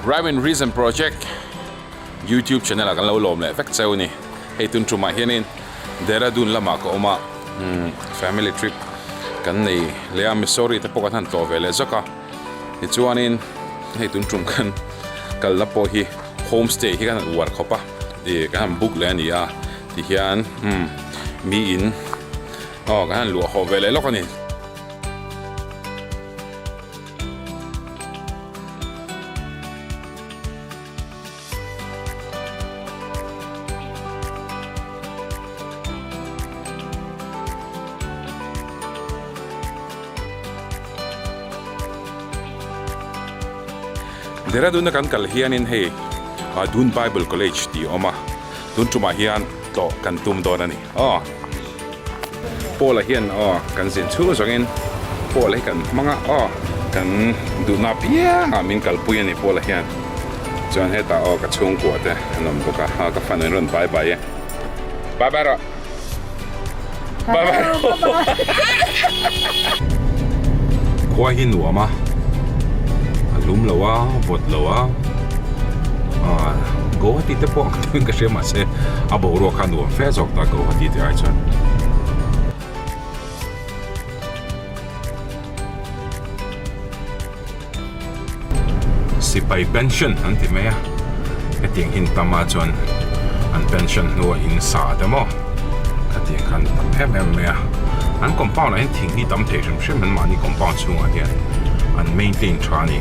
Rhyme and Reason project YouTube channel ah kan lo lawm leh vek cheu a ni. Hei tun ṭum ah hian in Dehradun lam ah ka awm a, Family trip kan nei leh a, Missouri te pawh kan han tlawh ve leh zawk a. Tichuanin hei tun ṭum khan kal na pawh hi home stay hi khan an uar khawp a, ih kan han book leh a ni a ti hian umm mi in aw kan han luah haw ve leh lawk a ni. Dehradun a kan kal hianin hei Dun Bible College tih a awm a, tun tumah hian tlawh kan tum dawn a ni. Aw Paula hian aw kan zin chhuh zawng in Paula hi kan hmang a aw kan duhna piang ah min kal pui a ni Paula hian chuan heta aw ka chhungkua te an awm bawk a aw ka fan in rawn bye bye e bye bye rawh bye bye khua hi nuam a a hlum lo a vawt lo a aw go ti te pawh Tun ka hria mahse a boruak kha nuam fe zawk ta ko a ti ti ai chuan. Sipai pension an ti mai a. Hetiang hin tam a chuan an pension hnua in sa te maw ka ti ang khan a tam em em mai a. An compound ah hian thing hi tam thei hrim hrim an mahni compound chhungah hian an maintain tha a ni.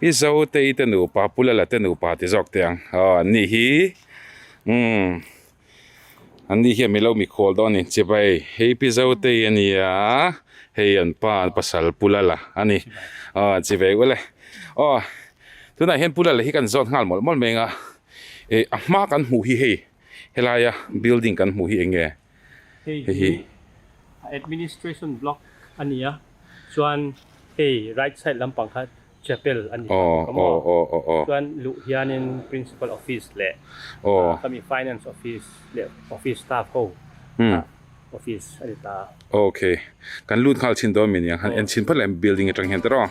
I zo te i te nupa pula la te nupa ti zawk te ang aw an nih hi umm an nih hi a milo mikhual dawn a ni chipa ei hei pi zo te i a nia hei an pa an pasal pula la a ni aw chi ve ulh e aw tunah hian pula la hi kan zawt nghal mawlh mawlh mai ang a e a hma kan hmuh hi hei helaia building kan hmuh hi eng nge. Hei hi a administration block a ni a, chuan hei right side lampang kha chapel a ni awh ka maw chuan luh hianin principal office leh ka mi finance office leh office staff ho a office a ni ta a. Ok kan lut nghal chhin dawn mi nia han en chhin phawt leh building atang hian te rawh.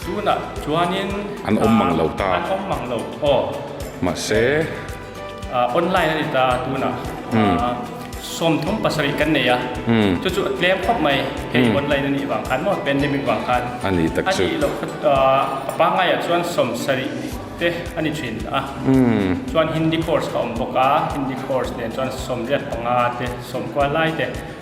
Tunah chuanin an awm mang lo ta. An awm mang lo aw. Mahse. Ahh online a ni ta tunah sawmthum pasarih kan nei a, chu chu a tlem khawp mai hei online a nih vang khan maw pandemic vang khan a nih tak chu a nih loh kha ta a pangngai ah chuan sawm sarih te a ni thin a chuan hindi course ka awm bawk a hindi course nen chuan sawmriat panga te sawm kual lai te.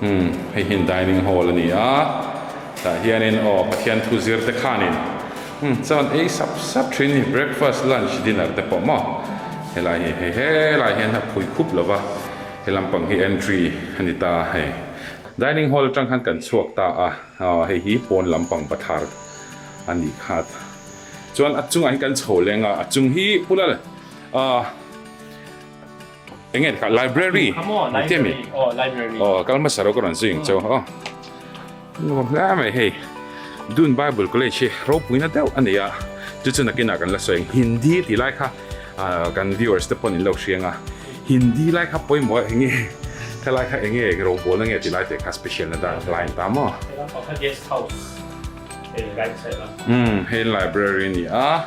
Hmm, hei hian dining hall a ni a, tah hianin aw Pathian thu zir te khanin hmm chuan ei sap sap thin ni, breakfast, lunch, dinner te pawh maw? Helai hi hei helai hian a phui khup lo va, he lampang hi entry a ni ta hei. Dining hall atang khan kan chhuak ta a, aw hei hi pawn lampang ba thar a ni khat. Chuan a chungah hian kan chho leng a, a chung hi pula le aw. Eng nge ka library. Library. Oh, library. Oh, kal ma saro ka ron zing chaw. Oh. No, la mai hey. Dun Bible College hi ro pui na deuh ani a. Chu chu nakina kan la sawi Hindi ti lai kha kan viewers te pon in lo hrianga. Hindi lai kha poi mo enge thalai kha enge ro bol na nge ti lai te kha special na dan line ta mo. Pakha guest house. Hey, right side. Hmm, hey library ni a.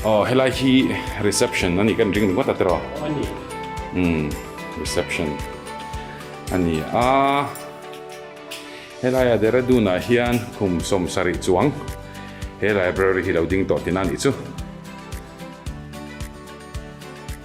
Aw helai hi reception ani kan ring ngawt atero. Ani. Um reception. Ani a. Helai a Dehradun a hian khum som sarih chuang. He library hi lo ding tawh tina nih chu.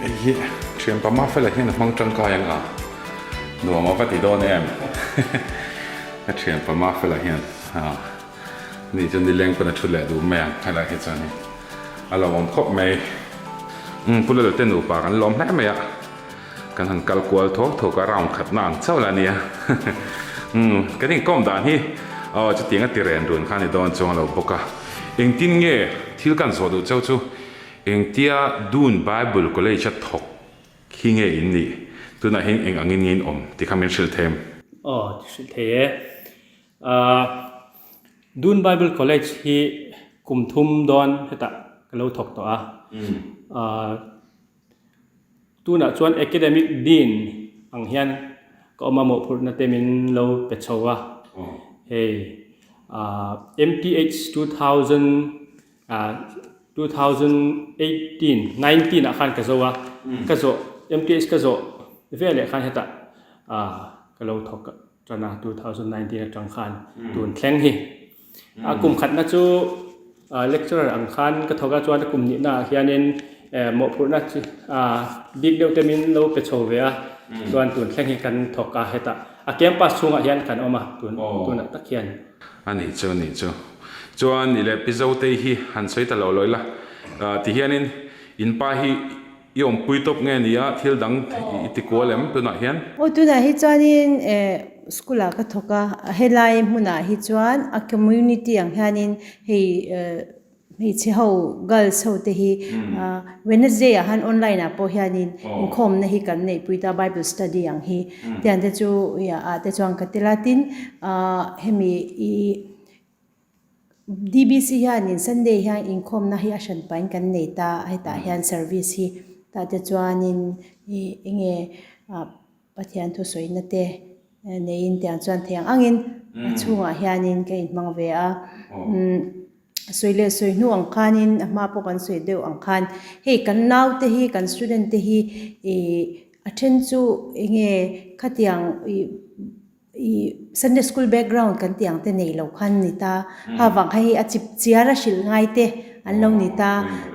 Hei hi thianpa Mafela hian a hmang tangkai ang a, nuam a va ti dawn em? Ka thianpa Mafela hian ni chu nileng pawn a thu leh duh mai ang, helai hi chuan hei a lo awm khawp mai. Umm, Pu Lal te nupa kan lawm hle mai a, kan han kal kual thawk thawk a, round khatna ang chauh la nia. Umm, kan inkawm dan hi aw chutianga ti ren run kha a ni dawn chuang lo bawk a, engtin nge thil kan zawh duh chau chu? Engtia Dun Bible College-a thawk hi nge in nih? Tunahin eng angin nge in awm? Ti kha min hrilh thei em? Aw, ti hrilh thei e. Aaa, Dun Bible College hi kum thum dawn hetah ka lo thawk tawh a. Aaa, tunah chuan Academic Dean ang hian ka awm a, mawhphurhna te min lo pe chho a. Hei, aaa, MPH two thousand. two thousand eighteen nineteen ah khan ka zo a ka zawh MTH ka zawh vel leh khan hetah ka lo thawk a tan a two thousand nineteen atang khan tun thleng hi a kum khatna chu lecturer ang khan ka thawk a chuan a kum nihna ah hianin mawhphurhna bik deuh te min lo pe chho ve a chuan tun thleng hi kan thawk a hetah A campus chhungah hian kan awm a, tun tunah tak hian. A nih chu, a nih chu. Chuan i leh Pizote hi han sawi ta lo lo ila, ti hianin, In pa hi i awmpui tawp nge ni a, thil dang i ti kual em tunah hian? Aw, tunah hi chuanin school-ah ka thawk a, helai hmunah hi chuan a community ang hianin hei. Hmeichhe ho, girls ho, te hi Wednesday ah han online ah pawh hian in inkhawmna hi kan neihpui ta, Bible study ang hi. Tiang te chu ah te chuan ka tel a. Tin ah hemi i DBC hian in Sunday hian inkhawmna hi a hran pahin kan nei ta. Hetah hian service hi tah te chuan in enge ah. Pathian thusawiina te neiin tiang chuan theng angin a chhungah hianin ka inhmang ve a. Sawi leh sawi hnu ang khanin a hma pawh kan sawi deuh ang khan hei kan naute hi, kan student te hi ih a then chu enge khatiang ih. I Sunday school background kan tih ang te nei lo khan ni ta, hahvang kha hi a chip chiar a hrilh ngai te an lo ni ta,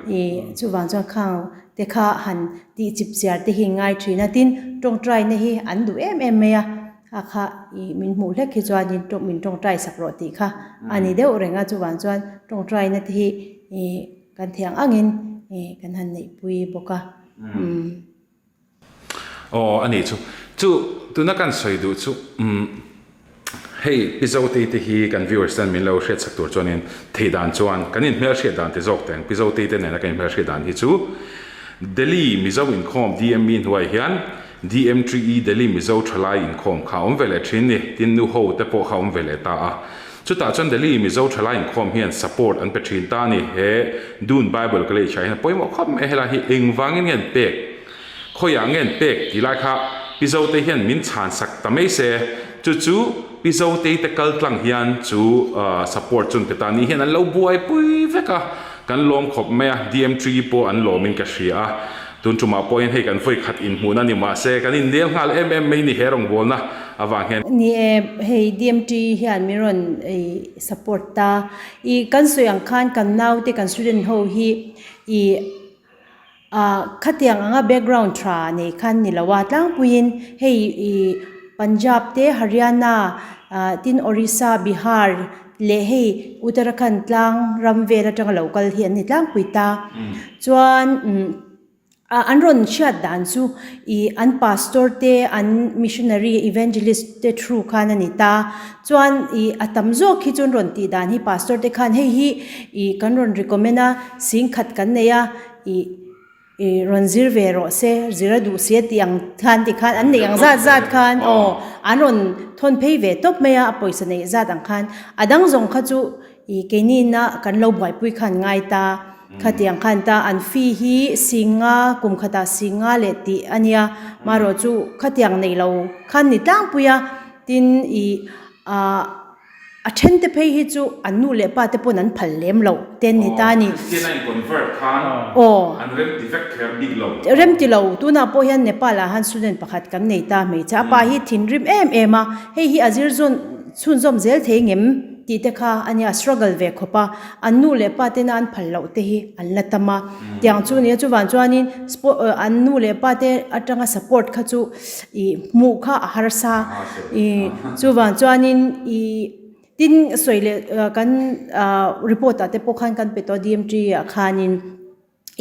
i chuvang chuan khang te kha han tih chip chiar te hi ngai thin a, tin tawngtai na hi an duh em em mai a, a kha i min hmuh hlek hi chuan in tawng min tawngtai sak rawh tih kha a ni deuh reng a, chuvang chuan tawngtai na te hi i kan thei ang ang in i kan han neihpui bawk a. Aw a ni chu. Chu tuna kan sawi duh chu umm hei pi Zotei te hi kan viewers ten min lo hriat chhak tur chuanin thei dan chuan kan in hmelhriat dan ti zawk teng pi Zotei te nena kan in hmelhriat dan hi chu Delhi Mizo inkhawm DM mi hnuai hian DM ṭi i Delhi Mizo ṭhalai inkhawm kha awm ve leh ṭhin ni tin nu ho te pawh kha awm ve leh ta a. Chutah chuan Delhi Mizo tha lai inkhawm hian support an pe thin ta a ni. He Dun Bible ka leh chhiah hian pawimawh khawp mai a helai hi engvangin nge an pek? Khawiah nge an pek tih lai kha Pi Zotei hian min chhan sak ta mai se. Chu chu Pi Zotei te kal tlang hian chu support chun te ta nih hian an lo buaipui vek a, kan lawm khawp mai a, DMTE pawh an lawmin ka hria a. Tun tumah pawhin hei kan vawi khat inhmun a ni mah se, kan inlial nghal em em mai ni he rawngbawlna avang hian. Ni e, hei DMT hian min rawn ih support ta, ih kan sawi ang khan kan naute kan student ho hi ih ah khatiang anga background tha nei khan ni lo a, tlangpuiin hei ih Punjab te Haryana ah tin Orissa, Bihar, leh hei Uttarakhand tlang ram vel atanga lo kal hi an ni tlangpui ta chuan umm an rawn hriat dan chu ih an pastor te an missionary evangelist te through khan a ni ta chuan ih a tam zawk hi chuan rawn tih dan hi pastor te khan hei hi ih kan rawn recommend a sing khat kan nei a ih-- I rawn zir ve rawh se, zir a duh si a tih ang thlan tih khan an neih ang zat zat khan aw an rawn thawn phei ve tawp mai a, a pawisa neih zat ang khan a dang zawng kha chu i keini'na kan lo buaipui kha an ngai ta, khati ang khan ta an fee hi sîngnga kum khata sîngnga leh tih a nia, maherawhchu khatiang neih lo khan ni tlangpui a, tin i ah. A then te phei hi chu an nu leh pa te pawn an phal lem lo. Ten ni ta ni. Christian a inconvert khan an rem ti vek kher bik lo. Rem ti lo. Tunah pawh hian Nepal ah han student pakhat kan nei ta hmeichhe a pa hi thinrim em em a, hei hi a zir zawn chhunzawm zel thei ngem tih te kha a nia struggle ve khawp a. An nu leh pa tena an phal loh te hi an la tam a. Tiang chu a ni a. Chuvang chuanin an nu leh pa te atanga support kha chu. ih hmuh kha a harsa ih chuvang chuanin ih tin sawi leh kan report ah te pawh khan kan pe tawh a DMG ah khanin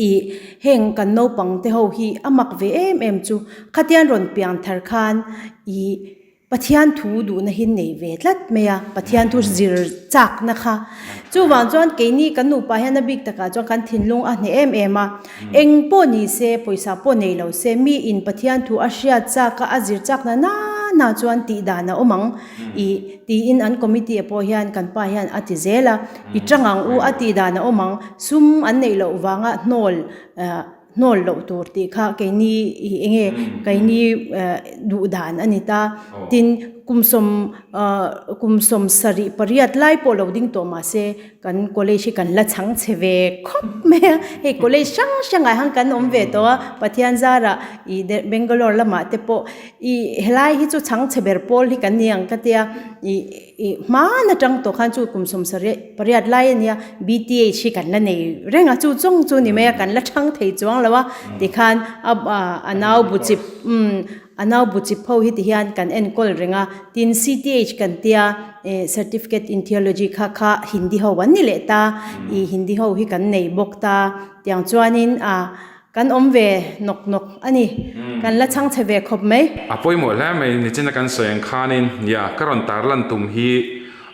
ih heng kan naupang te ho hi a mak ve em em chu khatiang rawn piang thar khan ih Pathian thu duhna hi nei ve tlat mai a Pathian thu zir chak na kha chuvang chuan keini kan nupa hian a bik takah chuan kan thinlung a hneh em em a. Eng pawh ni se, pawisa pawh nei lo se, mi in Pathian thu a hriat chak a, a zir chakna nana chuan tih dan a awm ang i, tiin an committee ah pawh hian kan pa hian a ti zel a. I tang ang u, a tih dan a awm ang, sum an neih loh vanga hnawl hnawl loh tur tih kha keini i enge keini duh dan a ni ta, tin kum sawm kum sawm sarih pariat lai pawh lo ding tawh mah se, Kan college hi kan la chhang chhe ve khawp mai a, hei college hrang hrangah hian kan awm ve tawh a, Pathian zara ih Del, Bangalore lamah te pawh ih helai hi chu chhang chhe ber pawl hi kan ni ang ka tia, ih ih hman atang tawh khan chu kum sawm sari, pariat lai a nia, BTH hi kan la nei reng a, chu zawng chu ni mai a, kan la chhang thei chuang lo a, tikhan a a nau bu chip, umm, a nau bu chip ho hi ti hian kan enkawl reng a, tin CTH kan tia, Eh, certificate in theology kha kha Hindi ho an ni leh ta, ih Hindi ho hi kan nei bawk ta, tiang chuanin ah kan awm ve nawk nawk a ni. Kan la chhang chhe ve khawp mai. A pawimawh hle mai nichina kan sawi ang khanin, ya, ka rawn tar lan tum hi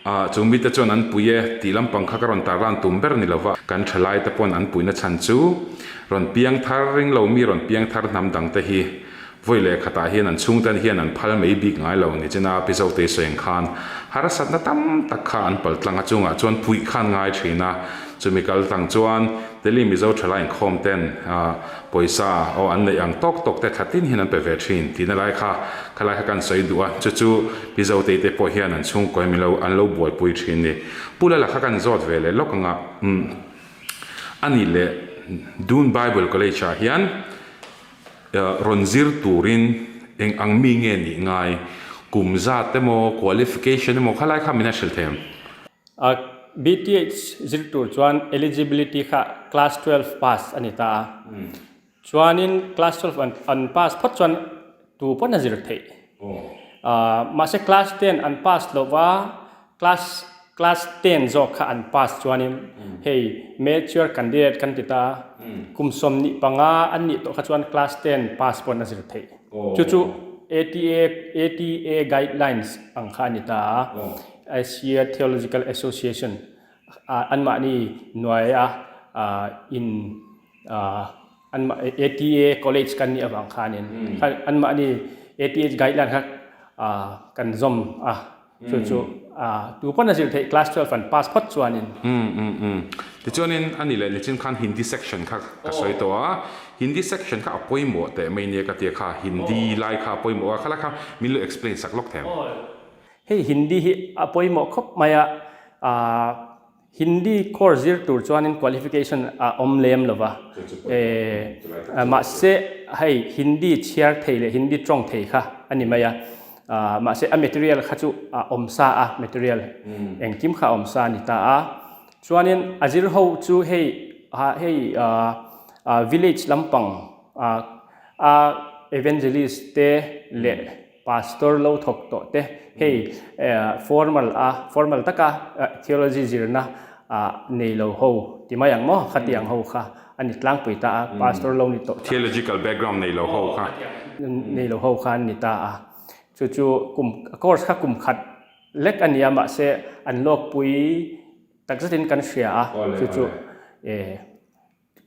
ah chu mite chuan an pui e, tih lampang kha ka rawn tar lan tum ber ni lo va, kan thalai te pawn an puina chhan chu rawn piang thar ring lo mi rawn piang thar hnam dang te hi Vawi leh khatah hian an chhungte an hian an phal mai bik ngai lo ni chin a, Pizote Seng khan harasatna tam tak kha an pal tlang a, chungah chuan puih khan ngai thin a, chumi kal tlang chuan Delhi Mizo thala inkhawm ten pawisa aw an neih ang tawk tawk te tha tin hian an pe ve thin tihna lai kha khalai kha kan sawi duh a, chu chu Pizote te pawh hian an chhungkaw em lo an lo buaipui thin ni. Pula la kha kan zawt ve leh lawk ang a, umm a nih leh Doon Bible College ah hian Rawn zir turin eng ang mi nge nih ngai, kum zat emaw, qualification emaw khalai kha min a hrilh thei ang. A BTH zir tur chuan eligibility kha class twelve pass a ni ta a, chuanin class twelve an pass phawt chuan tu pawn a zir theih. Mahse class ten an pass hlauh va, Class class ten zawk kha an pass chuanin hei mature candidate kan ti ta a, kum sawmhnih panga an nih tawh kha chuan class ten pass pawh an la zir theih. Chu chu ATA ATA guidelines ang kha a ni ta a, Asia Theological Association ah anmahni hnuaia ah in ah, Anmah ATA college kan nih avang khanin anmahni ATA guideline kha kan zawm a, chu chu tu pawn a zir theih class twelve an pass phawt chuanin. Umm umm umm. Tichuanin a ni leh nichin khan Hindi section kha ka sawi tawh a, Hindi section kha a pawimawh teh mai nia ka tia kha, Hindi lai kha a pawimawh a, khala kha min lo explain sak lawk thei ang. Hei Hindi hi a pawimawh khawp mai a. Hindi course zir tur chuanin qualification a awm lem lo va, eh, mahse hei Hindi chhiar thei leh Hindi tawng thei kha a ni mai a, ah, mahse a material kha chu a awm sa a, material engkim kha a awm sa a ni ta a. Chuanin a zir ho chu hei, ah, hei, ah, village lampang, ah, a evangelist te leh, Pastor lo thawk tawh te hei formal a formal taka theology zirna ah nei lo ho ti mai ang maw? Khati ang ho kha an ni tlangpui ta a, pastor lo ni tawh tak. Theological background nei lo ho kha. Nei lo ho kha an ni ta a, chu chu kum course kha kum khat lek a nia mahse an lawkpui tak zat in kan hria a chu chu.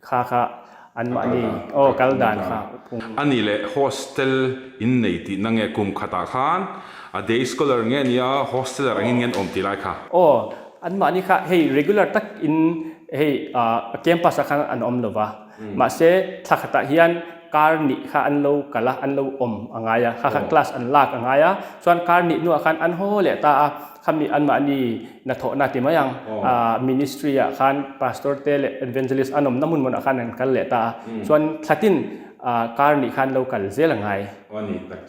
Kha kha an mah ni aw kal dan kha phung. A ni le hostel in nei tih na nge kum khat ah khan a day scholar nge nia hosteler angin ngen awm ti lai kha. Aw an mah ni kha hei regular tak in hei a campus ah khan an awm lova mahse thla khat ah hian kar nih kha an lo kal a an lo awm a ngai a kha kha class an lak a ngai a chuan kar nih hnu ah khan an haw leh ta a. Khami anmahni na thawh na ti mai ang a ministry ah khan pastor te leh evangelist an awm na hmun mawna khan an kal leh ta a chuan thla tin kar nih khan lo kal zel a ngai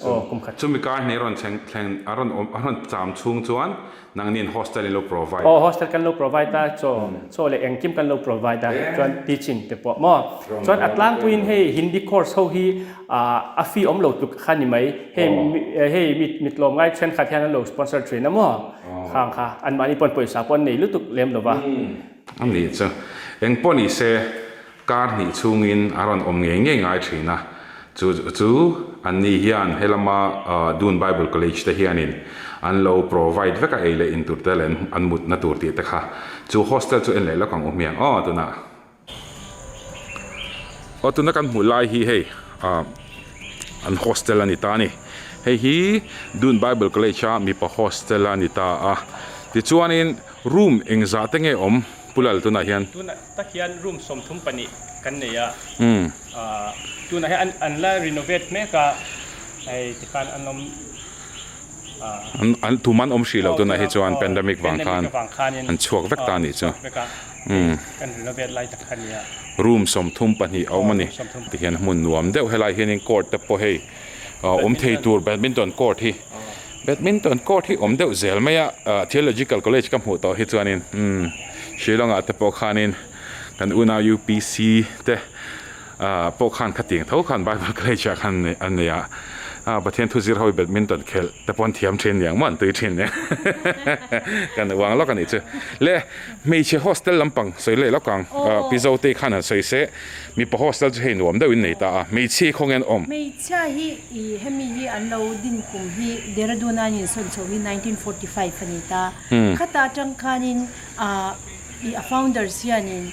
aw kum khat. Chumi kar hneh rawn thleng thleng a rawn awm a rawn cham chhung chuan nang nen hostel in lo provide a. Hostel kan lo provide a chaw chaw leh engkim kan lo provide a chuan teaching te pawh maw chuan a tlangpuiin hei hindi course ho hi A fee awm lo tluk kha ni mai. Hei hei mi mi tlawm ngai thenkhat hian an lo sponsor thin a maw? Khang kha, anmahni pawn pawisa pawh an nei lutuk lem lo va. A ni chu. Eng pawh ni se, kar hnih chhungin a rawn awm ngei ngei ngai thin a. Chu chu anni hian he lama Dun Bible College te hianin an lo provide vek a ei leh in turte leh an mutna tur tih te kha. Chu hostel chu en leh lawk ang u hmiang aw tunah. Aw tuna kan hmuh lai hi hei ah an hostel a ni ta a ni. Hei hi Dun Bible College a mipa hostel a ni ta a. Tichuanin room eng zah te nge awm Pulal tunah hian? Tunah tak hian room sawm thum pahnih kan nei a. Ahh tunah hian an an la renovate mek a. Hei tikhan an awm ahh. Tumah an awm hrih loh tunah hi chuan pandemic vang khan an chhuak vek ta a nih chu. Room sawmthum pahnih a awm a ni ti hian hmun nuam deuh helai hianin court te pawh hei awm thei tur badminton court hi badminton court hi awm deuh zel mai a theological college ka hmuh tawh hi chuanin umm Shillong ah te pawh khanin kan Unau UPC te. Ah pawh khan khatiang tho khan Bible College ah khan an nei a, ah Pathian thu zir ho i badminton khelh te pawh an thiam thin nia, engmah an tui thin nia kan uang lawk a nih chu. Le hmeichhe hostel lampang sawi leh lokang Pizo te khan an sawi se, mipa hostel chu hei nuam deuh in nei ta a, hmeichhe khawnge an awm. Hmeichhia hi i hemi hi an lo din kum hi Dehradun a in sawn chho hi nineteen forty five a ni ta, khata tang khanin ah i a founders hianin,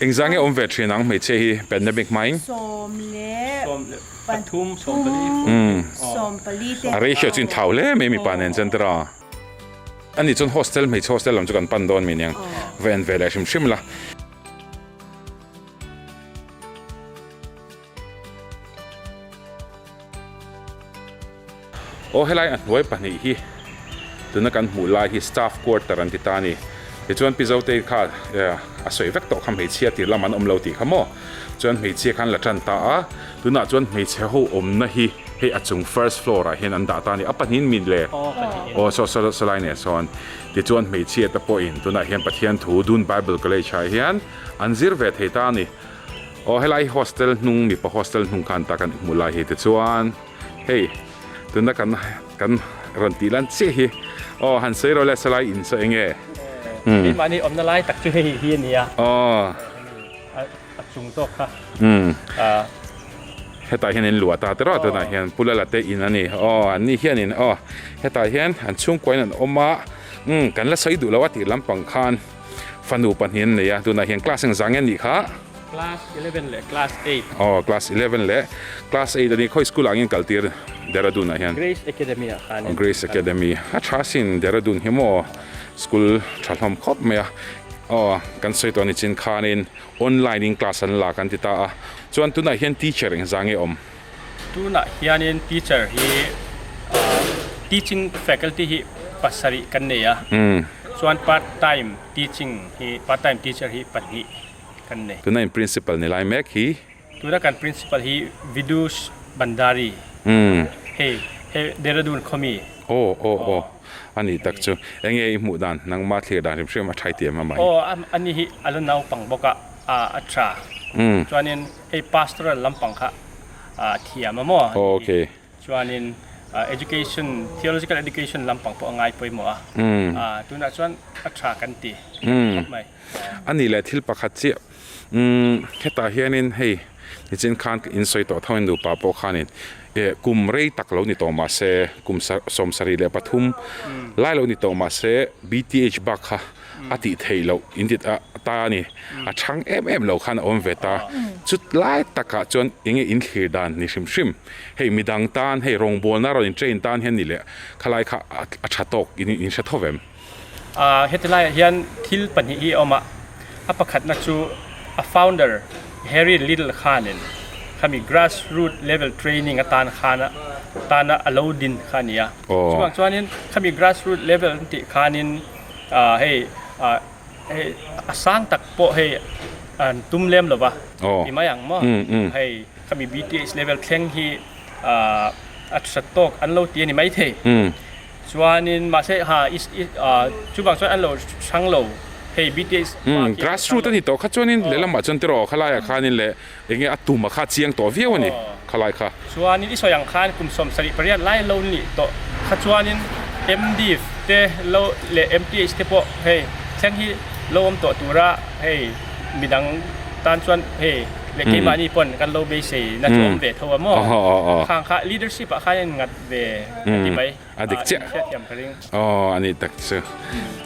Engzah nge awm ve thin ang hmeichhia hi pandemic hmai? Sawm leh pathum sawm pali te. A ratio chu in thlau hle mai mipa nen chuan tira a ni chuan hostel hmeichhe hostel lam chu kan pan dawn mai nia va en ve leh hrim hrim la. Aw helai a hnuai pahnih hi tuna kan hmuh lai hi staff quarter an ti ta a ni. Tichuan Pi Zoteii kha a sawi vek tawh kha hmeichhia tir lam an awm lo tih kha maw? Chuan hmeichhia kha an la tan ta a. Tunah chuan hmeichhe ho awmna hi hei a chung first floor ah hian an dah ta a ni. A pahnihin min le? Aw Sawlai nen sawn. Tichuan hmeichhia te pawhin tunah hian Pathian thu Dun Bible College ah hian an zir ve thei ta a ni. Aw helai hostel hnung mipa hostel hnung khan ta kan hmuh lai hi te chuan hei tuna kan kan rawn tih lan chiah hi aw han sawi rawh le salai in saw enge umm hei mahni awmna lai tak chu hei hi a ni a aw a chung zawk kha umm hetah hian in luah ta te rawh tunah hian pula la te in a ni aw an nih hian in aw hetah hian an chhungkuain an awm a umm kan la sawi duh lo a tih lampang khan. Fanu pahnih an nei a, tunah hian class eng zang nge an nih kha? Class eleven leh class eight. Aw, class eleven leh class eight a ni. Khawi school ah angin kal tir? Dehradun ah hian. Grace Academy ah khan. Grace Academy. A tha sin Dehradun hi maw? School tha hlawm khawp mai a. Aw, kan sawi tawh a ni chin khanin online in class an la kan ti ta a. Chuan tunah hian teacher eng zang nge awm? Tunah hianin teacher hi teaching faculty hi pasarih kan nei a, chuan part time teaching hi part time teacher hi pahnih kan nei. Tuna in principal ni lai mek hi? Tuna kan principal hi Vidush Bhandari hei he Dehradun khawmi. Aw aw aw a ni tak chu. Enge i hmuh dan nangma thlir dan hrim hrim a tha i ti em a mai? Aw a ni hi a la naupang bawk a a tha chuanin. Hei pastoral lampang kha a thiam a maw ni hi chuanin education theological education lampang pawh a ngai pawimawh a tunah chuan a tha kan ti khawp mai. A nih leh thil pakhat chiah hetah hianin hei nichin khan ka insawi tawh thangin nupa pawh khanin kum rei tak lo ni tawh mahse kum sawm sarih leh pathum lai lo ni tawh mahse bth bak kha a tih theih loh intit a ta a ni. A chhang em em lo khan a awm ve ta, chutlai takah chuan enge in thlir dan ni hrim hrim. Hei midang tan hei rawngbawlna a rawn in train tan hian ni le khalai kha a tha tawk in in hre thawp em? Heti laiah hian thil pahnih hi a awm a, a pakhatna chu a founder Harry Liddle khanin khami grass root level training atan khan a tana a lo din kha a ni a. Chungah chuanin khami grass root level an tih khanin, hei a sang tak pawh hei an tum lem lo va ti mai ang maw hei khami bts level thleng hi a hriat tawk an lo ti a ni mai thei chuanin mahse ha chuvang chuan an lo hrang lo hei bts grassroot a ni tawh kha chuanin lehlamah chuan tiraw khalaiah khanin leh. Eng nge a tuma kha a chiang tawh viau a ni khalai kha. Chuanin i sawi ang khan kum sawm sarih pariat lai lo nih tawh kha chuanin MDiv te lo leh MPH te pawh hei thleng hi lo awm tawh tura hei midang tan chuan hei leh keimahni pawn kan lo beiseina chu awm ve tho a maw? Khang kha leadership ah khan a in ngat ve a ti mai. A dik chiah aw a nih tak chu.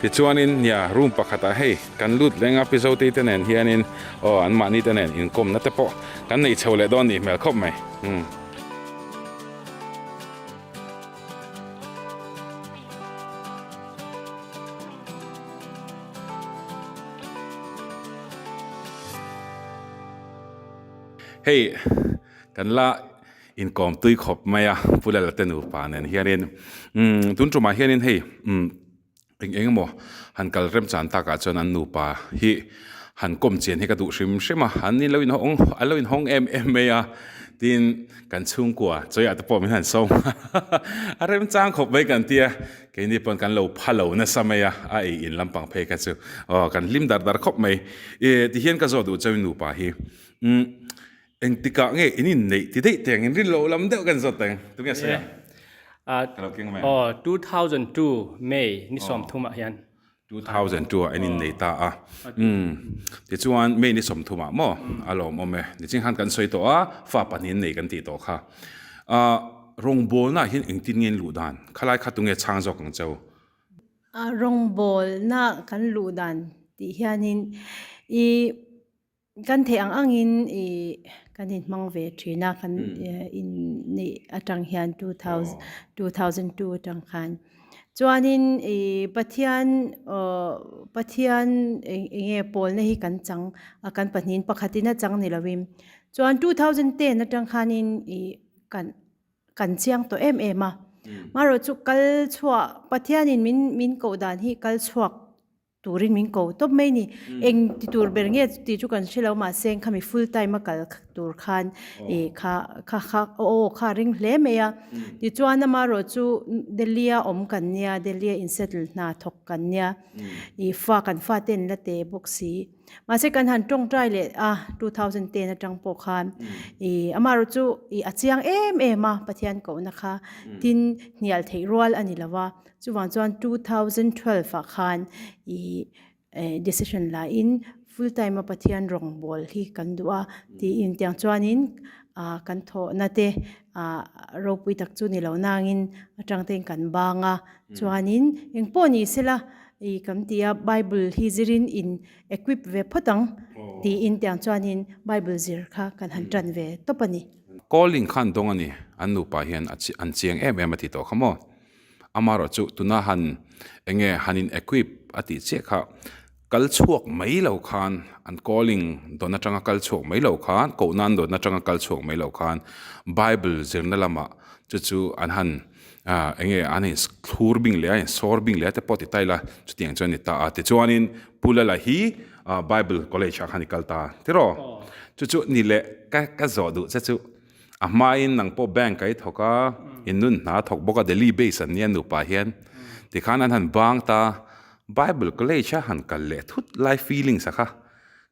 Tichuanin nia room pakhatah hei kan lut leng a Pizo Teite nen hianin aw an mahni te nen inkawmna te pawh kan nei chho leh dawn nih hmel khawp mai hmm. Hei kan la Inkawm tui khawp mai a, Pu Lala te nupa nen hianin. Umm, tun tumah hianin hei umm eng eng emaw han kal rem chan takah chuan an nupa hi han kawm chian hi ka duh hrim hrim a, an in lo inhawng an lo inhawng em em mai a, tin kan chhungkua chawiah te pawh min han sawi nghal a remchang khawp mai kan tia, keini pawn kan lo pha lo nasa mai a, a ei in lampang phei kha chu aw kan hlim dar dar khawp mai, e tihian ka zawt duh chauhin nupa hi umm. Eng tikah nge in inneih ti daih teng, in rin loh lam deuh ka inzawt teng. Tunge a sawi ang? Ka lo keng mai a. Aw, two thousand two May ni sawm thum ah hian. Two thousand two ah in innei ta a. Umm. Tichuan May ni sawm thum ah maw? A lawm awm e. Niching khan kan sawi tawh a, fa pahnih an nei kan tih tawh kha. Aah, rawngbawlna ah hian engtin nge in luh dan? Khalai kha tunge a chhang zawk ang che? Aah, rawngbawlna ah kan luh dan tih hianin i. Kan theih ang angin i kan inhmang ve thin a, kan inneih atang hian two thousand two atang khan. Chuanin i Pathian Pathian enge pawlna hi kan chang a, kan pahnihin pakhat in a chang ni lovin. Chuan two thousand ten atang khanin i kan kan chiang tawh em em a. Marawh chu kal chhuah Pathianin min min koh dan hi kal chhuak Turin min ko tawp mai ni. Eng ti tur ber nge tih chu kan hre lo mahse engkha mi full time a kal tur khan i kha kha kha aw kha a ring hle mai a. Tichuan ama erawh chu Delhi a awm kan nia, Delhi a in settle hna thawk kan nia. I fa kan fa ten la teh bawk si. Mahse kan han tawng try leh a two thousand ten atang pawh khan i ama erawh chu i a chiang em em a Pathian kohna kha tin hnial theih rual a ni lo a. Chuvang chuan two thousand twelve ah khan i decision lahin full time a Pathian rawngbâwl hi kan duh a tiin tiang chuanin kan thawhna te ropui tak chu ni lo nangin atangtein kan bâng a. Chuanin engpawh ni se la i kan ti a Bible hi zirin in equip ve phawt ang tiin tiang chuanin Bible zir kha kan han ṭan ve tawp a ni. Calling khan dawng a ni, an nupa hian an chiang em em a ti tawh kha maw? Amarawh chu tuna han enge han in equip a tih chiah kha kal chhuak mai lo khan an calling dawn atanga kal chhuak mai lo khan koh nan dawn atanga kal chhuak mai lo khan Bible zirna lamah chu chu an han enge an in thlur bing leh a in sawr bing leh te pawh ti ta ila chutiang chuan ni ta a tichuanin Pula la hi Bible college ah khan i kal ta tiraw chu chu ni leh ka ka zawh duh che chu A hmain nang pawh bank ka i thawk a, i nun hna thawk bawk a, Delhi base an ni a nupa hian. Tikhan an han bang ta, Bible college a han kal leh thut lai feelings a kha.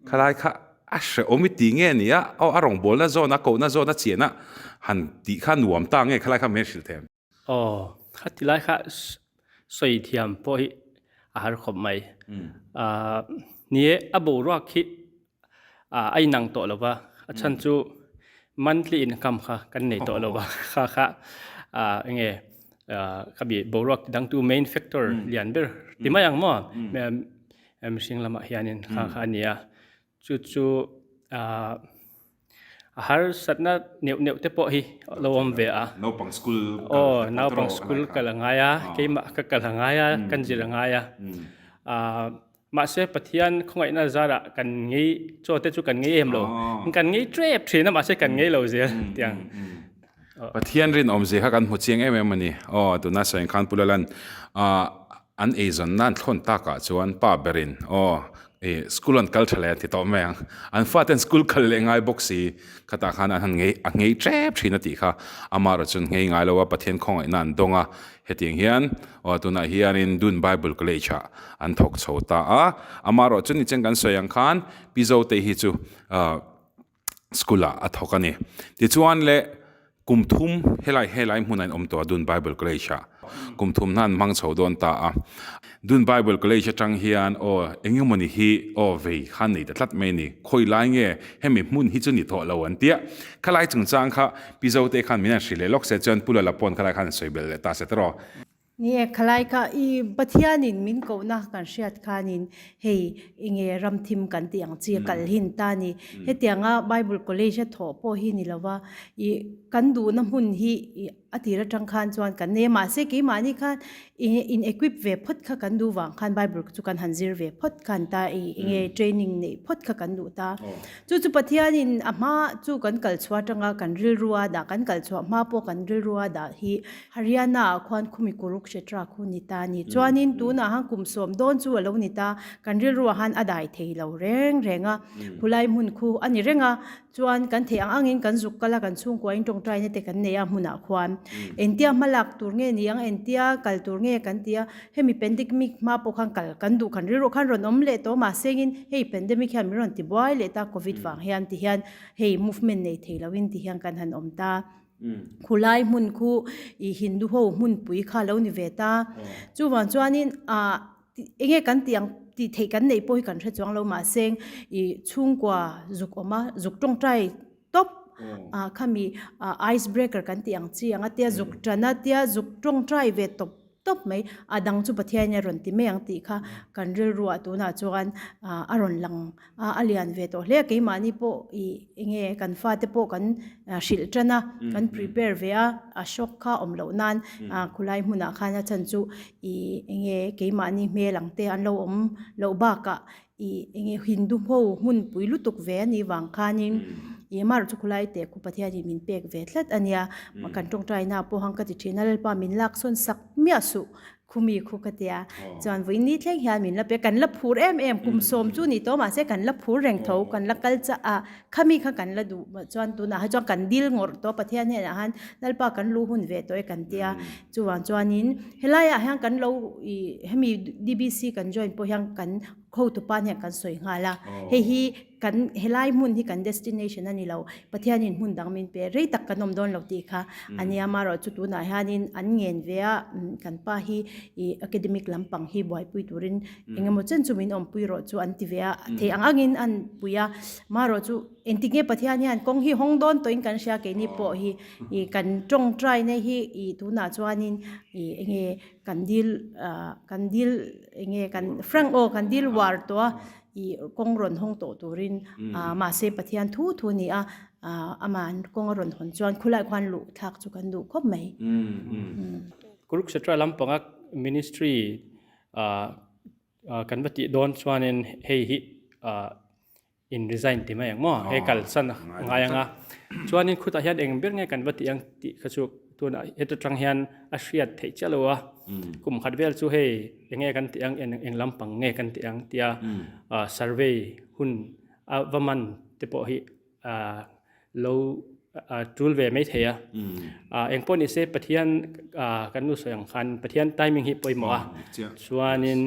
Khalai kha a hrehawm i ti nge nia, aw a rawngbawlna zawn, a kohna zawn a chiahna han tih kha nuam ta nge khalai kha min hrilh thei ang. Aw, a ti lai kha sawi thiam pawh hi a har khawp mai. Ni e, a boruak khi a inang tawh lova, a chhan chu monthly income kha kan nei tawh lova kha kha eng nge ka bi boruak ti dangtu main factor lian ber ti mai ang maw? Mihring lamah hianin kha kha a nia. Chu chu a harsatna neuh neuh te pawh hi a lo awm ve a. Naupang school kal te pawh tawrh a. Naupang school kal a ngai a, keimah ka kal a ngai a, kan zir a ngai a. Mahse Pathian khawngaihna zarah kan ngei, chaw te chu kan ngei em lo. Kan ngei trep thin a, mahse kan ngei lo zel tiang. Pathian rinawm zia kha kan hmu chiang em em a ni. Aw, tuna Sawinkhan Pu Lalan an eizawn nan thlawn takah chuan pa berin aw, i school an kal tha le an ti tawh mai ang. An faten school kal leh ngai bawk si. Khatah khan an han ngei a ngei tep thin a tih kha ama erawh chuan ngei ngai lo a, Pathian khawngaihna an dawng a. Hetiang hian aw, tunah hianin Dun Bible College-ah an thawk chho ta a. Ama erawh chu nichain kan sawi ang khan Pi Zote hi chu school-ah a thawk a ni. Tichuan le kum thum helai helai hmuna in awm tawh a Dun Bible College-ah. Kum thum hna an hmang chho dawn ta a. Dun Bible College atang hian aw eng emaw ni hi aw vei khan nei ta tlat mai a ni. Khawi lai nge hemi hmun hi chu ni tawh lo an ti a. Khalai chungchang kha Pizote khan min han hrilh leh lawk se chuan Pulala pawn khalai khan an sawi bel leh ta se tawh. Ni e, khalai kha i Pathianin min kohna kan hriat khanin hei i nge ram thim kan tih ang chi a kal hin ta ni. Hetianga Bible College a thawh pawh hi ni lo va, i kan duhna hmun hi i a tir atang khan chuan kan nei a, mahse keimahni khan i in equip ve phawt kha kan duh vang khan Bible chu kan han zir ve phawt kha an ta, i enge training neih phawt kha kan duh ta. Chu chu Pathianin a hma chu kan kal chhuah atanga kan rilru a dah, kan kal chhuah hma pawh kan rilru a dah hi Haryana ah khuan khumi Kurukshetra khu ni ta ni chuanin tunah han kum sawm dawn chu a lo ni ta, kan rilru ah han a dai thei lo reng reng a, khulai hmun khu a ni reng a, chuan kan theih ang ang in kan zuk kal a, kan chhungkua in tawngtai na te kan nei a hmun ah khuan engtia hma lak tur nge ni ang, engtia kal tur nge kan ti a, hemi pandemic hma pawh khan kal kan duh khan rilru khan rawn awm leh tawh mahse in hei pandemic hian min rawn ti buai leh ta covid vang hian ti hian hei movement nei thei lo in ti hian kan han awm ta. Khulai hmun khu i Hindu ho hmunpui kha lo ni ve ta. Chuvang chuanin ah enge kan tih ang tih theih kan neih pawh hi kan hre chuang lo mahseng i chhungkua zuk awma zuk tawngtai tawp ah khami ah ice breaker kan tih ang chi anga tia zuk tana tia zuk tawngtai ve tawp tawp mai, a dang chu Pathian in a rawn ti mai ang tih kha kan rilru ah tunah chuan a rawn lang a, a lian ve tawh hle, keimahni pawh i enge kan fa te pawh kan hrilh tan a, kan prepare ve a, a shock kha awm loh nan khulai hmunah khan a chhan chu i enge keimahni hmel ang te an lo awm loh bakah I enge Hindu ho hmunpui lutuk ve a nih vang khanin i emarawh chu khulai teh khup Pathian in min pek ve tlat a nia. Kan tawngtaina pawh hang ka ti thin a, Lalpa min laksawn sak miah suh khumi khu ka ti a. Chuan vawiin ni thleng hian min la pek, kan la phur em em kum sawm chu ni tawh mahse kan la phur reng tho, kan la kal chah a. Khami kha kan la duh mawlh chuan tunah ha chuan kan dil ngawrh tawh a, Pathian hian a han Lalpa kan luh hun ve tawh e kan tia, chuvang chuanin helaiah hian kan lo ih hemi DBC kan join pawh hian kan hotu pan hian kan sawi nghal a, hei hi kan helai hmun hi kan destination a ni lo, Pathianin hmun dang min pe rei tak kan awm dawn lo tih kha a nia, marawh chu tunah hianin an ngen ve a, kan pa hi ih academic lampang hi buaipui turin. Engemaw chen chu min awmpui rawh chu an ti ve a, thei ang ang in an pui a. Marawh chu, engtik nge Pathian hian kawng hi hawng dawn tawhin kan hria keini pawh hi ih kan tawng try nai hi ih tunah chuanin ih enge kan dil kan dil enge kan frank aw kan dil uar tawh a, ih kawng rawn hawng tawh turin ah mahse Pathian thu thu ni a ah amah an kawng a rawn hawn chuan khulai khuan luh thlak chu kan duh khawp mai. Kurukshetra lampanga Ministry Ahh kan va tih dawn chuanin hei hi ahh in resign ti mai ang maw? He kal san a ngai anga chuanin khutah hian eng ber nge kan va tih ang tih kha chu tunah heta tang hian a hriat theih chiah lo a, kum khat vel chu hei enge kan tih ang eng lampang nge kan tih ang tia survey hun a va man te pawh hi a lo tul ve mai thei a, eng pawh nise Pathian kan nu sawi ang khan Pathian timing hi pawimawh a, chuanin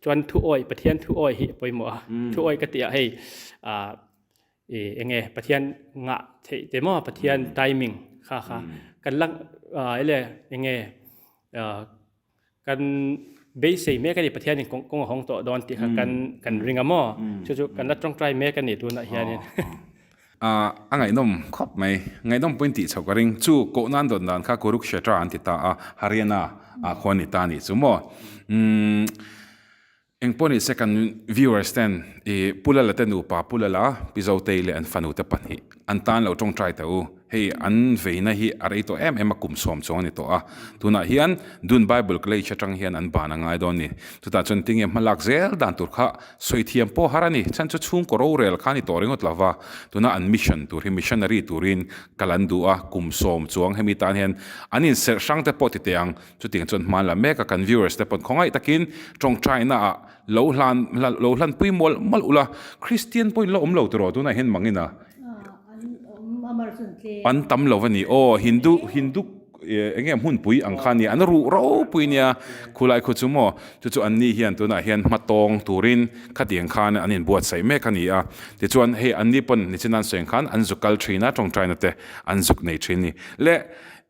chuan thu awi, Pathian thu awi hi pawimawh a, thu awi ka tih ah hei eng nge Pathian ngah theih te maw, Pathian timing kha kha kan la eng nge. Kan beisei mek a ni, Pathianin kawng kawng a hawng tawh dawn tih kha kan kan ring a maw? Chu chu kan la tawngtai mek a nih tunah hianin. A a ngaihnawm khawp mai, ngaihnawm pawhin tih chho ka ring. Chu koh nan dawn dan kha Kurukshetra an ti ta a, Haryana ah khaw a ni ta a nih chu maw? Umm. Engpawh ni se kan viewers ten i Pulala te nupa Pulala, Pizotei leh an fanu te pahnih an tan lo tawng try teh u, hei an veina hi a rei tawh em em a kum sawm chuang a ni tawh a, tunah hian Dun Bible College atang hian an ban a ngai dawn ni, chutah chuan tinge hma lak zel dan tur kha sawi thiam pawh har a ni, chhan chu chhungkaw rorel kha a ni tawh ringawt lo va, tuna an mission tur hi missionary turin kal an duh a, kum sawm chuang hemi tan hian an inserh hrang te pawh titeh ang. Chutiang chuan hmaan la meka kan viewers te pawn khawngaih takin tawngtaina ah lo hlan lo hlanpui mual mual ula, Christian pawhin la awm lo tiraw tunah hian mangin a? An tam lo a ni aw, Hindu Hindu enge hmunpui ang kha nia an ruh ropui nia khulai khu chu maw? Chu chu anni hian tunah hian hmatawng turin khatiang khan an inbuatsaih mek a ni a, tichuan hei anni pawn nichinan sawiin khan an zuk kal thin a tawngtaina te an zuk nei thin a ni leh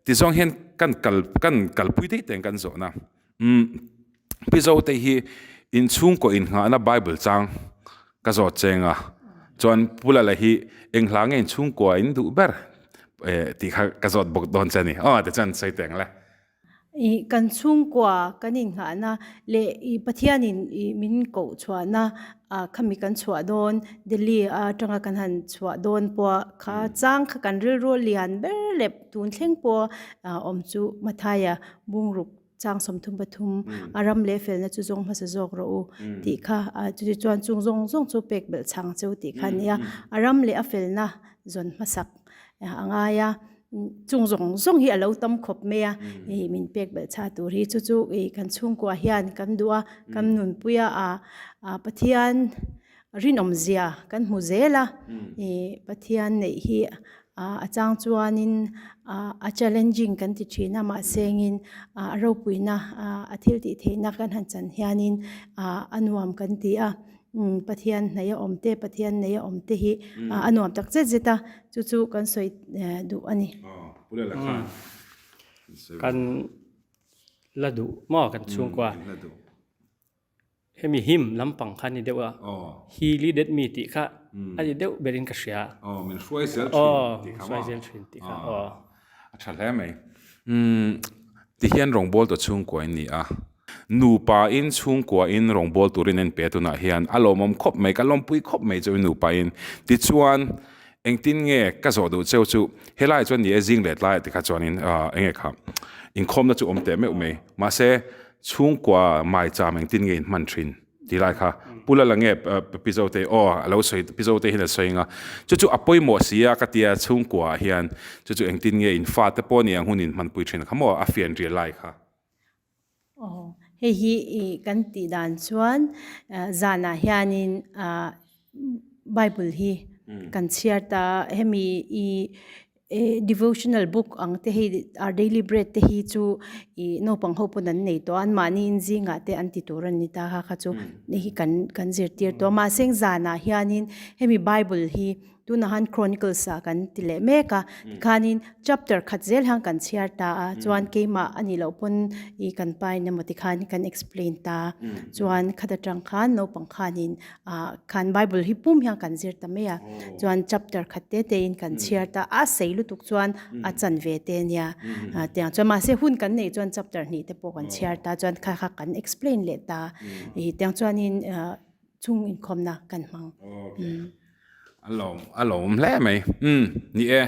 Tizuang hian kan kal kan kalpui daih te'n kan zawhna. Umm, Pizo te hi inchhungkaw innghahna Bible chang ka zawt cheng a, chuan Pula la hi enghla nge inchhungkaw a induh ber e tih kha ka zawt bawk dawn che a ni. Aw, tichuan an sawi teng le. I kan chhungkaw kan innghahna leh i Pathianin i min koh chhuahna ah kha mi kan chhuah dawn, Delhi atanga kan han chhuah dawn pawh kha chang kha kan rilru a lian ber lep. Tun thleng pawh a awm chu Mathaia bungruk chang sawmthum pathum a ram leh felna chu zawng hmasa zawk rawh u tih kha a, chuti chuan chung zawng zawng chu pek belh chhang che u tih kha a ni a, a ram leh a felna zawn hmasak a ngai a, chung zawng zawng hi a lo tam khawp mai a ih min pek belh chha tur hi, chu chu ih kan chhungkua ah hian kan duh a, kan nunpuia a Pathian Rinawmzia kan hmu zel a, i Pathian neih hi a chang chuanin a challenging kan ti thin a, mahsengin a ropuina a thil tih theihna kan han chan hianin a nuam kan ti a, Pathian hnaih a awm te, Pathian neih a awm te hi a nuam tak zet zet a, chu chu kan sawi duh a ni. Kan la duh maw kan chhungkua? Hemi him lampang kha a ni deuh a, hi li det mi tih kha a ni deuh ber in ka hria. Aw, min hruai zel thin tih kha maw? Aw, min hruai zel thin tih kha aw. A tha hle mai. Umm, ti hian rawngbâwl tawh chhungkua in ni a. Nupa in chhungkua in rawngbâwl tur in a inpe tunah hian a lawmawm khawp mai, ka lawmpui khawp mai chu i nupa in. Tichuan, engtin nge ka zawh duh cheu chu, helai chuan ni e, zing leh tlai ah tikha chuan in enge kha, inkhawmna chu awm teh meuh mai. Mahse, Chhungkua maicham engtin nge in hman thin? ti lai kha Pu Lala nge Pi Zote aw a lo sawi Pi Zote hian a sawi anga chu chu a pawimawh a si a ka tia chhungkua ah hian chu chu engtin nge in fa te pawh nia a hun in hman pui thin kha maw a fian rial lai kha. Aw hei hi kan tih dan chuan zan ah hian in Bible hi kan chhiar ta, hemi i devotional book ang te hi, our daily bread te hi chu i naupang ho pawn an nei tawh a, anmahni in zingah te an ti tur a ni ta kha chu hei hi kan zirtir tawh a. Mahse heng zanah hianin hemi Bible hi tunah han Chronicles ah kan ti leh mek a, tikhanin chapter khat zel hian kan chhiar ta a, chuan keimah a nih loh pawn i kan pain emaw tikhan kan explain ta a, chuan khat atang khan naupang khanin. Ahh khan Bible hi pum hian kan zir ta mai a, chuan chapter khat te te in kan chhiar ta a, sei lutuk chuan a chan ve te a nia, ahh tiang chuan mahse hun kan neih chuan chapter hnih te pawh kan chhiar ta, chuan kha kha kan explain leh ta, ih tiang chuan in chung inkhawmna kan hmang. A lawm, a lawm hle mai. Umm, ni e.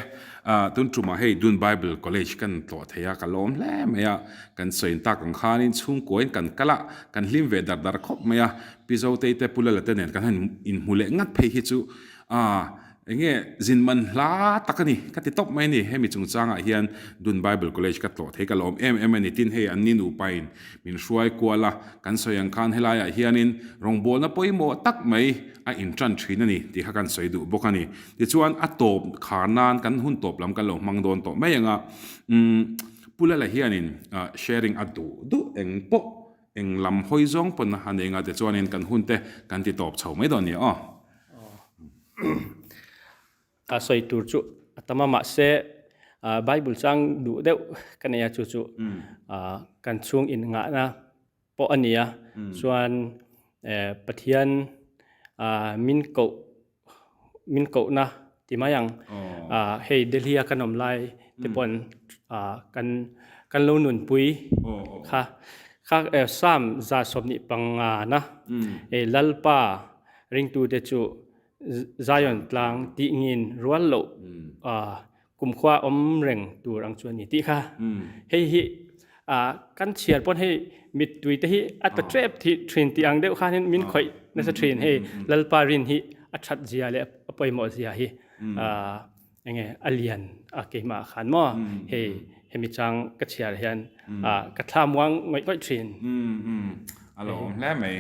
Ahh, tun tumah hei Dun Bible College kan tlawh thei a, ka lawm hle mai a. Kan sawiin tak ang khanin chhungkuain kan kal a, kan hlim ve dar dar khawp mai a. Pi Zotei te Pu Lalate nen kan han inhmu leh ngat phei hi chu, ahh, eng nge zin man hla tak a ni, ka ti tawp mai a ni. Hemi chungchangah hian Dun Bible College ka tlawh thei ka lawm em em a ni. Tin hei an ni nupain Min hruai kual a, kan sawi ang khan helaiah hianin rawngbawlna pawimawh tak mai a inṭan ṭhin a ni tih kha kan sawi duh bawk a ni. Tichuan a tawp khar nan kan hun tawp lam kan lo hmang dawn tawh mai ang a. Umm Pula la hianin sharing a duh duh eng pawh eng lam hawi zawng pawn a nei anga tichuanin kan hunte kan ti tawp chho mai dawn a ni aw. A sawi tur chu a tam a, mahse Bible chu ang duh deuh ka nei a, chu chu kan chhung innghahna pawh a ni a. Chuan Pathian min koh, min kohna ti mai ang, hei Delhi a kan awm lai te pawhin kan lo nunpui kha. Psalm za sawmhnih pangana Lalpa ringtute chu, Zion tlang tih ngin rual loh kumkhua awm reng tur ang chu a ni tih kha. Hei hi kan chhiar pawn hei mittui te hi a ta tep thin tih ang deuh khanin min khawih nasa thin hei Lalpa Rin hi a that zia leh a pawimawh zia hi. Enge a lian a keimah ah khan maw? Hei hemi chang ka chhiar hian ka thla muang ngawih ngawih thin. A lo awm hle mai.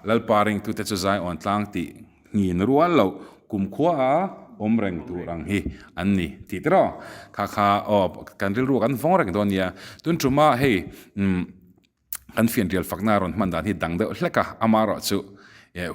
Lalpa reng tute chu zai awn tlang tih ngin rual loh kumkhua a awm reng tur ang hi an ni tih tiraw? Kha kha aw kan rilru a kan vawng reng dawn nia. Tun tumah hei. kan fian rial fakna a rawn hman dan hi dang deuh hlek a, ama erawh chu e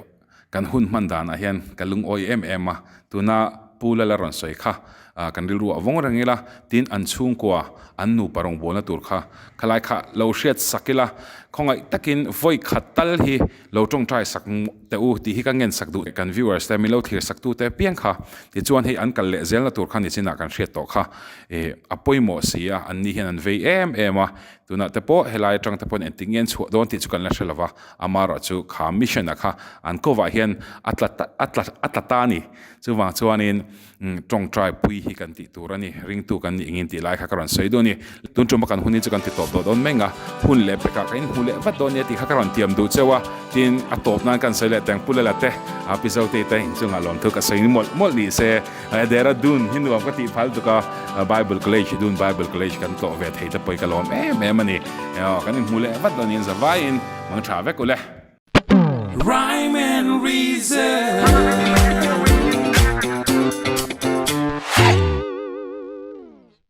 kan hun hman danah hian ka lungawi em em a, tuna Pu Lala rawn sawi kha a kan rilru a vawng reng ila tin an chhungkua an nupa rawn bualna tur kha khalai kha lo hriat sak ila khawngaih takin vawi khat tal hi lo tawngtai sak teh u tih hi ka ngen sak duh teh kan viewers te min lo thlir sak tu te piang kha tichuan hei an kal leh zel na tur kha nichinah kan hriat tawh kha e a pawimawh si a an nih hian an vei em em a. Tunah te pawh helai atang te pawhin engtin nge an chhuah dawn tih chu kan la hre lova, amah erawh chu kha mission-a kha an kawvah hian a tla ta a tla a tla ta a ni. Chuvang chuanin tawngtaipui hi kan tih tur a ni, ringtu kan nih ngin tih lai kha ka rawn sawi dawn a ni. Tun ṭum a kan hunin chu kan ti tawp tawh dawn meng a, hun leh bekah kan inhmu leh vat dawn nia tih kha ka rawn tiam duh cheu a, tin a tawp nan kan sawi leh teng Pulala te, Pizote te inchungah lawmthu ka sawi mawlh mawlh nise, Dehradun hi nuam ka tih phal tuk a, Bible College hi dun Bible College kan tlawh ve thei te pawh hi ka lawm em em a ni. Emaw, kan inhmu leh vat lo aniang za vaiin mang tha vek u le. Rhyme and reason.